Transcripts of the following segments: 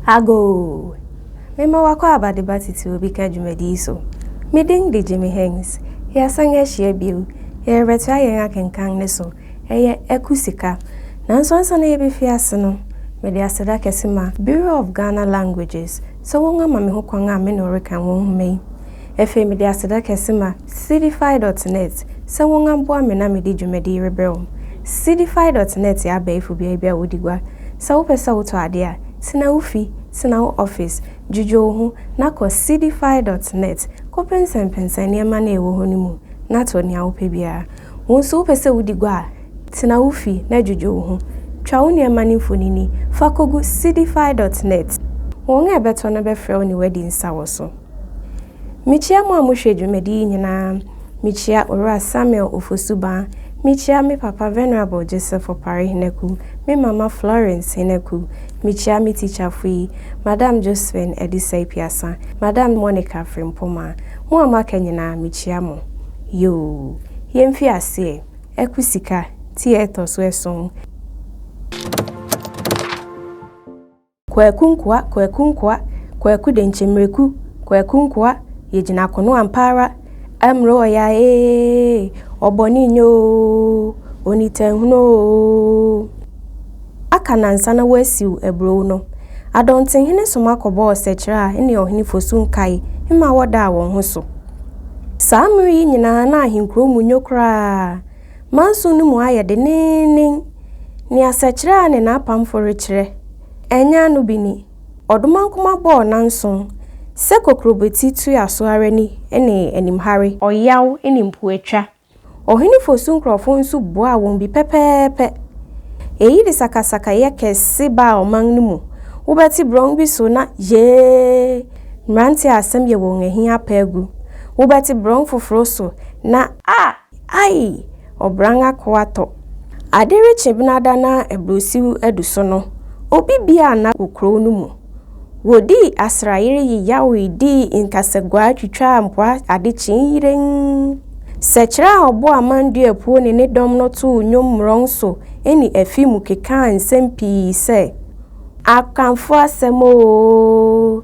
Agoo! Mema wakɔ abadeba titiriw bi ka dwumadi yi so. Me din de Jimmy Hings. Yɛasan ahyia bio. Yɛrebɛtoa yɛn akenkan no so. Ɛyɛ aku sika. Nanso ansa na yebefi ase no, mede aseda kɛse ma Bureau of Ghana Languages sɛ wɔama me hokwan a me ne wo reka wɔn nhoma yi. Afei mede aseda kɛse ma Seedify dot net sɛ wɔn aboa me na mede dwumadi yi rebrɛ wɔn. Seedify dot net yɛ abɛɛfo beae bi a wodi gua. Sɛ wopɛ sɛ wotɔ ade a, tena wo fi, tena wo office, dwudwo wo ho, na kɔ Seedify dot net kɔpɛnsɛmpɛnsɛn nneɛma no a ɛwɔ hɔ no mu na tɔ nea wopɛ biara. Wo nso wopɛ sɛ wodi gua a, tena wo fi na dwudwo wo ho. Twa wo nneɛma no mfonini fa kogu Seedify dot net. Wɔn a ɛbɛtɔ no bɛfrɛ wo ne wo adi nsa wɔ so. Mekyia mo a mohwɛ dwumadi yi nyinaa. Mekyia Owura Samuel Ofosu-Baa. Mekyia me papa Venerable Joseph Opare Henaku, me mama Florence Henaku. Mekyia me tikyafo yi, Madam Josephine Adisai-Piasa, Madam Monica Frimpomah. Mo a moaka nyinaa, mekyia mo. Yoo! Yɛmfi aseɛ. Aku Sika, ti a ɛtɔ so ason. Kwaku Nkoa, Kwaku Nkoa, Kwaku Denkyemereku, Kwaku Nkoa, yɛgyina kono ampa ara, Amuro ɔya ee, ɔbɔne nyɛ oo, onitanhunu oo. Aka nnansa na wɔasiw aburow no, Adɔntehene soma kɔbɔɔ ɔsɛkyerɛ a ɛne Ɔhene Fosu nkae mma wɔdaa wɔn ho so. Saa mmere yi nyinaa na ahenkurow mu nnwo koraa, Manso no mu ayɛ denneennen. Nea sɛkyerɛ a ne n'apamfo rekyerɛ ɛnyɛ ano bi ni, Ɔdomankoma bɔɔ n'anson sɛ kokurobeti toaa so ara ni ne animhare, ɔyaw ne mpoatwa, Ɔhene Fosu nkurɔfo nso buaa wɔn bi pɛpɛɛpɛ. Eyi de sakasakayɛ kɛse baa ɔman no mu, wobɛte borɔn bi so na yee! mmerante a asɛm yɛ wɔn ahi apa agu, wobɛte borɔn foforo so na, ah! Ai! Ɔbran akoa tɔ. Ade rekye benada na aburusiw adu so no, obi bi a na wɔ kurow no mu. Wodii asrayere yeyawee dii nkasaguaa twitwaa mpoa ade kyee yirenn. Sɛkyerɛ a ɔbɔ amanduapuo ne ne dɔm no too nnwom mmorɔn so ne afi mu kekaa nsɛm pii sɛ, Akanfo asɛm oo!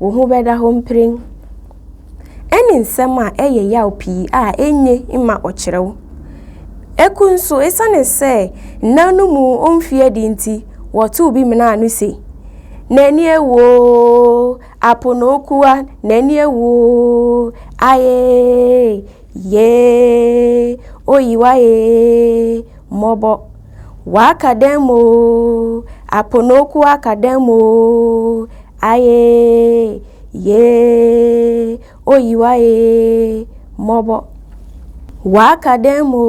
Wo ho bɛda hɔ mprɛn. Ɛne nsɛm a ɛyɛ yaw pii a enye mma ɔkyerɛw. Eku nso, esiane sɛ nna no mu omfi adi nti, wɔtoo bi menaa no se, N'ani awu oo, apo na oku a, n'ani awu oo, aye, yee, oyi w'aye, mmɔbɔ. W'aka dɛn mo Aponoku aka dɛn mo Aye yee Oyiwa ee Mɔbɔ W'aka dɛn mo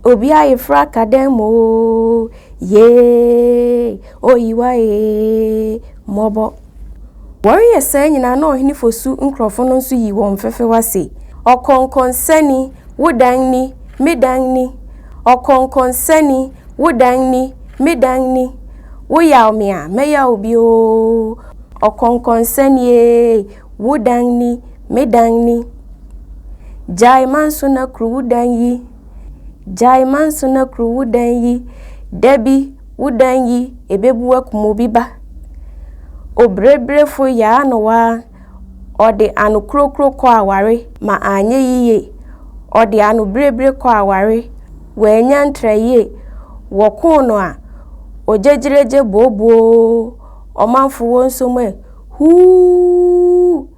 Obi ayefra aka dɛn mo Yee Oyiwa ee Mɔbɔ Wɔreyɛ saa nyinaa na ɔhene Fosu nkurɔfo no nso yi wɔn fefewa se, Ɔkɔnkɔnsani, wo dan ni, me dan ni! Ɔkɔnkɔnsani, wo dan ni, me dan ni! Woyaw me a, mɛyaw wo bi oo! Ɔkɔnkɔnsani ee, wo dan ni, me dan ni! Gyae manso na kuru wo dan yi! Gyae manso na kuru wo dan yi! Da bi, wo dan yi ebebu akum obi ba. Obrebrefo yɛ ano waa, ɔde anokurokuro kɔ aware ma anyɛ yiye, ɔde anobirebire kɔ aware, wannya ntra yie, wɔko no a, ogyegyeregye booboo, ɔmanfo wɔ nsom ɛ, huu!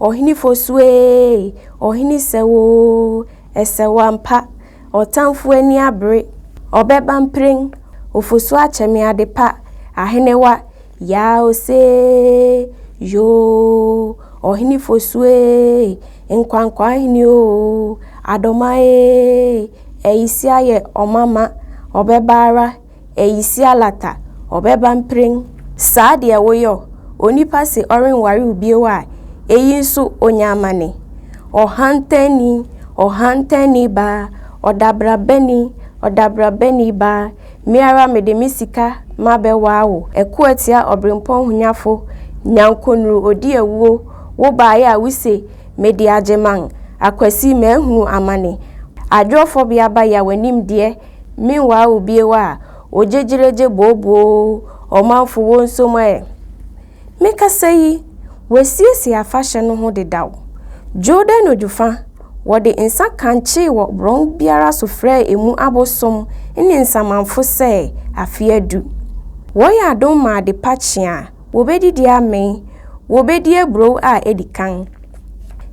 Ɔhene Fosu ee, Ɔhene Sɛw oo, Ɛsɛw ampa, Ɔtamfo ani abere, Ɔbɛba mprɛn, Ofosu akyɛ me ade pa, Ahenewa, Yaa osee, Yoo, Ɔhene Fosu ee, Nkwankwa ahene oo, Adoma ee, Ayisi ayɛ ɔma ma, Ɔbɛba ara, Eyi si alata, ɔbɛba mprɛn. Saa deɛ woyɔ, onipa se ɔrenware wo bio a, eyi nso ɔnya amane. Ɔhantanni, ɔhantanni baa, ɔdabrabani, ɔdabrabani baa, me ara mede me sika mabɛwaa wo. Ɛko atia ɔberempɔn honyafo, nyankonuru ɔdi awuo, wo baeɛ a wose mede agyeman, akwasi mahunu amane. Adwoɔfɔbea ba ya w'anim deɛ. Meanwhile obie wa ogyegyiregye booboo ɔmanfo wo nso mo ɛ. Me kasa yi wasiesie afahyɛ no ho dedaw. Jordan Odwofa wɔde nsa kankyee wɔ borɔn biara so frɛɛ emu abosom ne nsamanfo sɛ afe adu. Wɔyɛ adom ma adepa kye a, wɔbɛdidi amee, wɔbɛdi aburoo a adi kan.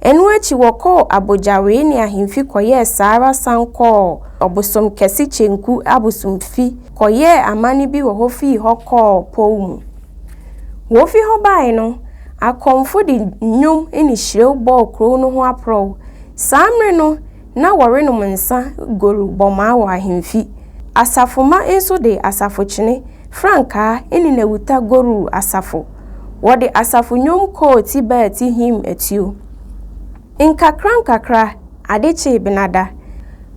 Ɛno akyi wɔkɔɔ abogyawee ne ahemfi kɔyɛɛ saa ara san kɔɔ ɔbosom kɛse Kyenku abosomfi kɔyɛɛ amanne bi wɔ hɔ fii hɔ kɔɔ pɔw mu. Wɔfi hɔ bae no, akɔmfo de nnwom ne hyirew bɔɔ kurow no ho aporɔw. Saa mmere no, na wɔrenom nsa goru bɔmaa wɔ ahemfi. Asafomma nso de asafo-kyene, frankaa, ne nnawuta goruu asafo. Wɔde asafo-nnwom kɔɔ ti baa ti hiim atuo. Nkakrankakra, ade kyee Benada.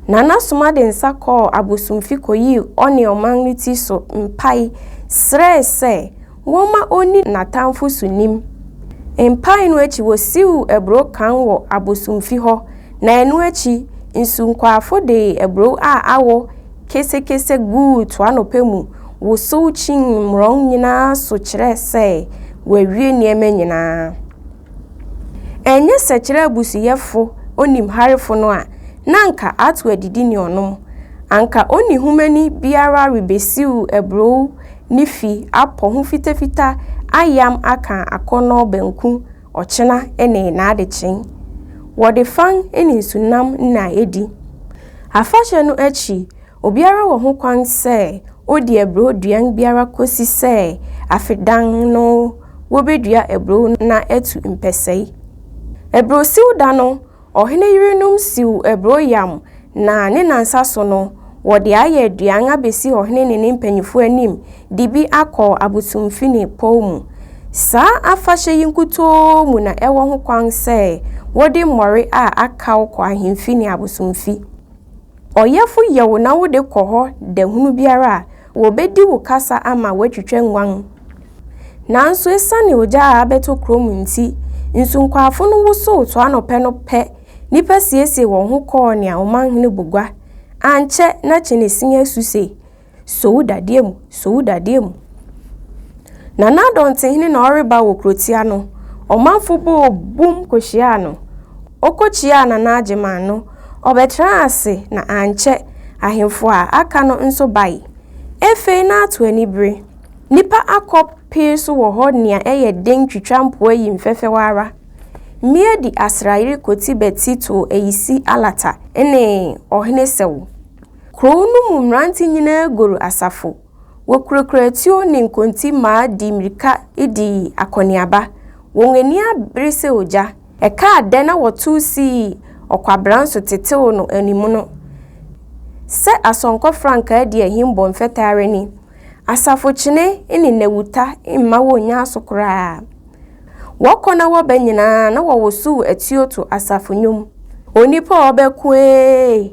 Nana Soma de nsa kɔɔ abosomfi kɔyii ɔne ɔman no ti so mpae srɛe sɛ Wɔma onni n'atamfo so nim. Mpae no akyi wosiw aburow kann wɔ abosomfi hɔ, na ɛno akyi nsunkwaafo de aburow a awo kesekese guu toano pa mu wosow kyinii mmorɔn nyinaa so kyerɛɛ sɛ wɔawie nneɛma nyinaa. Ɛnyɛ sɛ kyerɛ abusuyɛfo onimharefo no a, na anka ato adidi ne ɔnom. Anka onihumani biara rebesiw aburow ne fi apɔ ho fitafita ayam aka akɔnnɔ banku, ɔkyena ne n'adekyee. Wɔde fang ne nsunam nna adi. Afahyɛ no akyi, obiara wɔ ho kwan sɛ odi aburow duan biara kosi sɛ Afedan no wobedua aburow no na atu mpɛsɛe. Aburow siw da no, Ɔhene yerenom siw aburow yam, na ne nnansa so no, wɔde ayɛ aduan abesi ɔhene ne ne mpanyimfo anim de bi akɔ abosomfini pɔw mu. Saa afahyɛ yi nkutoo mu na ɛwɔ hokwan sɛ wode mmɔre a akaw kɔ ahemfi ne abosomfi. Ɔyɛfo yɛ wo na wode kɔ hɔ da hunu biara a, Wɔbɛdi wo kasa ama woatwitwa nguan. Nanso esiane ogya a abɛtɔ kurom nti, nsunkwaafo no wosow to anɔpɛ no pɛ, nnipa siesiee wɔn ho kɔɔ nea ɔmanhene bɔ gua. Ankyɛ na Kyenesin asu se, So wo dadeɛ mu! So wo dadeɛ mu! Na na dɔntehene na ɔreba wɔ kurotia no. Ɔmanfo bɔɔ bum kohyiaa no. Ɔkɔkyiaa Nana Agyeman no Ɔbɛtraa ase na ankyɛ ahemfo a aka no nso bae. Ɛfei na ato anibere. Nnipa akɔ pee so wɔ hɔ nea ɛyɛ den twitwa mpoa yi mfɛfɛw ara. Mmea di asrayere koti bɛti tow ayisi alata ne ɔhene sɛwo. Kurow no mu mmerante nyinaa goru asafo. Wɔkurakura atuo ne nkontimmaa dii mmirika dii akɔneaba. Wɔn ani abere sɛ ogya. Ɛkaa dɛ na wɔtow sii ɔkwabran so tetew no animono. Sɛ asɔnkɔ frankaa di ahim bɔ mfɛtɛ ara ni. Asafokyene ne nnawuta mma wonnya so koraa. Wɔkɔ na wɔba nyinaa na wɔwosow atuo to asafo nnwom. Onipa a ɔbɛko ee!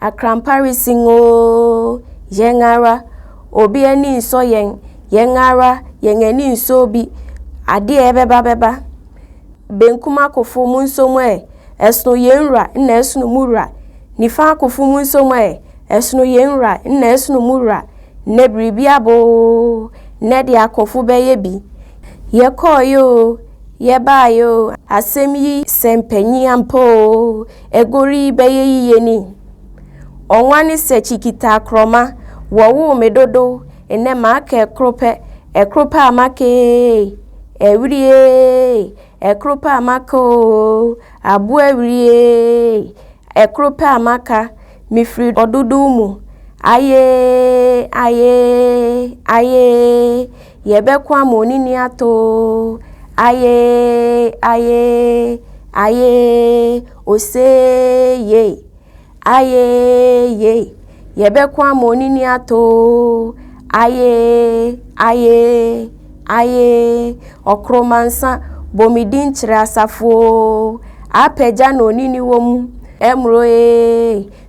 Akrampa resin oo, yɛn ara, obi ani nsɔ yɛn, yɛn ara, yɛn ani nsɔ obi, adeɛ ɛbɛba bɛba. Benkum akofo monso mo ɛ, ɛsono yɛn wura nna ɛsono mo wura, nifa akofo monso mo ɛ, ɛsono yɛn wura nna ɛsono mo wura, nnɛ biribi aba oo, nnɛ deɛ akofo bɛyɛ bi. Yɛkɔɔeɛ oo, yɛbaaeɛ oo, asɛm yi sɛ mpanyin ampa oo, Agori bɛyɛ yiye ni. Ɔnwa ne sɛ kyikita akorɔma wɔwoo me dodo nnɛ maka ɛkoro pɛ ɛkoro pɛ a maka eeii Awiri eeii ɛkoro pɛ a maka oo Aboa awiri eeii ɛkoro pɛ a maka Mefiri ɔdodow mu ayeeii ayeeii ayeeii Yɛbɛko ama onini atoo, ayee, ayee, ayee, oseeyei, ayee, yei. Yɛbɛko ama onini atoo, ayee, ayee, ayee, ɔkoromansa, bɔ me din kyerɛ asafo oo, apagya na onini wɔ mu, ɛmmeroo ee,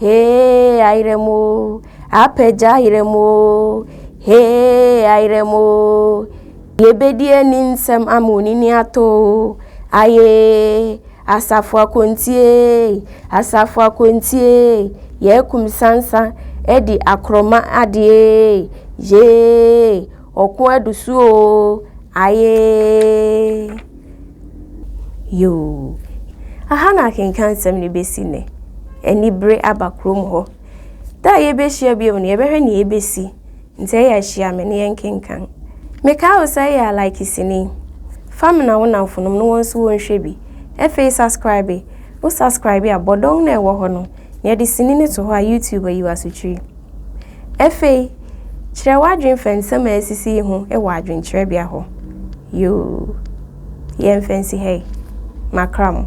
Hee ayerɛ mu o, apagya ayerɛ mu o, hee ayerɛ mu o, yɛbɛdi ani nsɛm ama onini atɔ o, ayee, asafo akɔntie, asafo akɔntie, yɛakum sansa adi akorɔma adeɛ, yee, ɔko adu so o, ayee. Yoo, aha na akenkan nsɛm no bɛsi nnɛ. Anibere aba kurom hɔ. Da a yɛbɛhyia bio no, yɛbɛhwɛ nea ɛbɛsi. Nti ɛyɛ a hyia me na yɛnkenkan. Mekae wo sɛ yɛ a like sini. Fa mena wo nnamfonom na wɔn nso wɔnhwɛ bi. Afei saskribe. Wo saskribe a, bɔdɔn no a ɛwɔ hɔ no, na yɛde sini no to hɔ a YouTube ayi wo asokyiri. Afei, kyerɛ w'adwene fa nsɛm a asisi yi ho wɔ adwenkyerɛbea hɔ. Yoo, yɛmfa nsi ha yi. Makra mo.